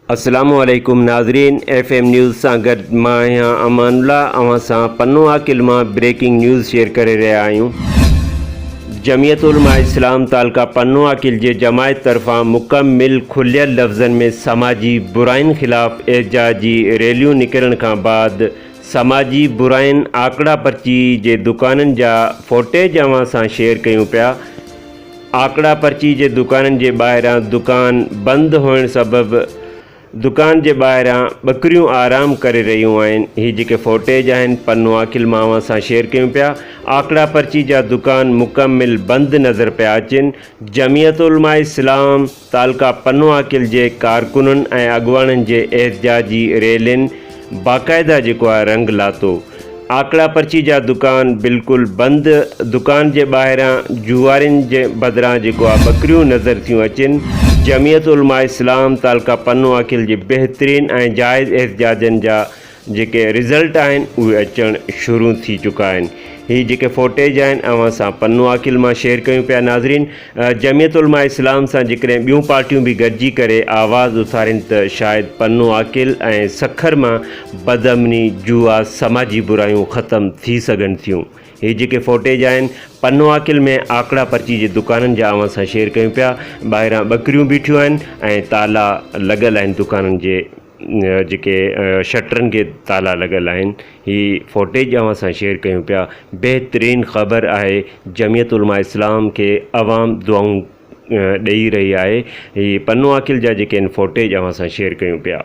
السلام عليڪم ناظرين ايف ايم نيوز سان گڏ مان آهيان امان الله اوهان سان پنو عاقل مان بريڪنگ نيوز شيئر ڪري رهيا آهيون جمعيت علماء اسلام تعلقه پنو عاقل جي جماعت طرفان مڪمل کليل لفظن ۾ سماجي براين خلاف احجاج جي ريليون نڪرڻ کان بعد سماجي براين آڪڙا پرچي جي دڪانن جا فوٽيج اوهان سان شيئر ڪيون پيا آڪڙا پرچي جي دڪانن جي ٻاهران دڪان بند هئڻ سبب دڪان جي ٻاهران ٻڪريون آرام ڪري رهيون آهن هي جيڪي فوٽيج آهن پنو عاقل مان اوهان سان شيئر ڪيون پيا آڪڙا پرچي جا دڪان مڪمل بند نظر پيا اچن جمعيت علماء اسلام تعلقه پنو عاقل جي ڪارڪنن ۽ اڳواڻن جي احتجاجي ريلين باقاعده جيڪو آهي رنگ لاتو. آڪڙا پرچي جا دڪان بلڪل بند. دڪان جي ٻاهران جوئارين جي بدران جيڪو آهي ٻڪريون نظر ٿيون اچن. جمعيت علماء اسلام تعلقه پنو آڪل جي بهترين ۽ جائز احتجاجن جا جيڪي رزلٽ آهن اهي اچڻ شروع ٿي چڪا آهن. هي جيڪي فوٽيج آهن اوهان سان پنو آڪل مان شيئر ڪيون پيا ناظرين. جمعيت علماء اسلام سان جيڪڏهن ٻيون پارٽيون به گڏجي ڪري آواز اٿارين ته شايد پنو عاقل ۽ سکر مان بدامني، جوئا، سماجي برايون ختم ٿي سگهن ٿيون. هي جيڪي فوٽيج آهن پنو عاقل ۾ آڪڙا پرچي جي دڪانن جا اوهان سان شيئر ڪيون پيا، ٻاهران ٻڪريون بيٺيون آهن ۽ تالا لڳل آهن دڪانن جي. جيڪي شٽرن کي تالا لڳل آهن هي فوٽيج اوهان سان شيئر ڪيون پيا بهترين خبر آهي جميعت علماء اسلام کي عوام دعائون ڏئي رهي آهي هي پنو عاقل جا جيڪي ان فوٽيج اوهان سان شيئر ڪيون پيا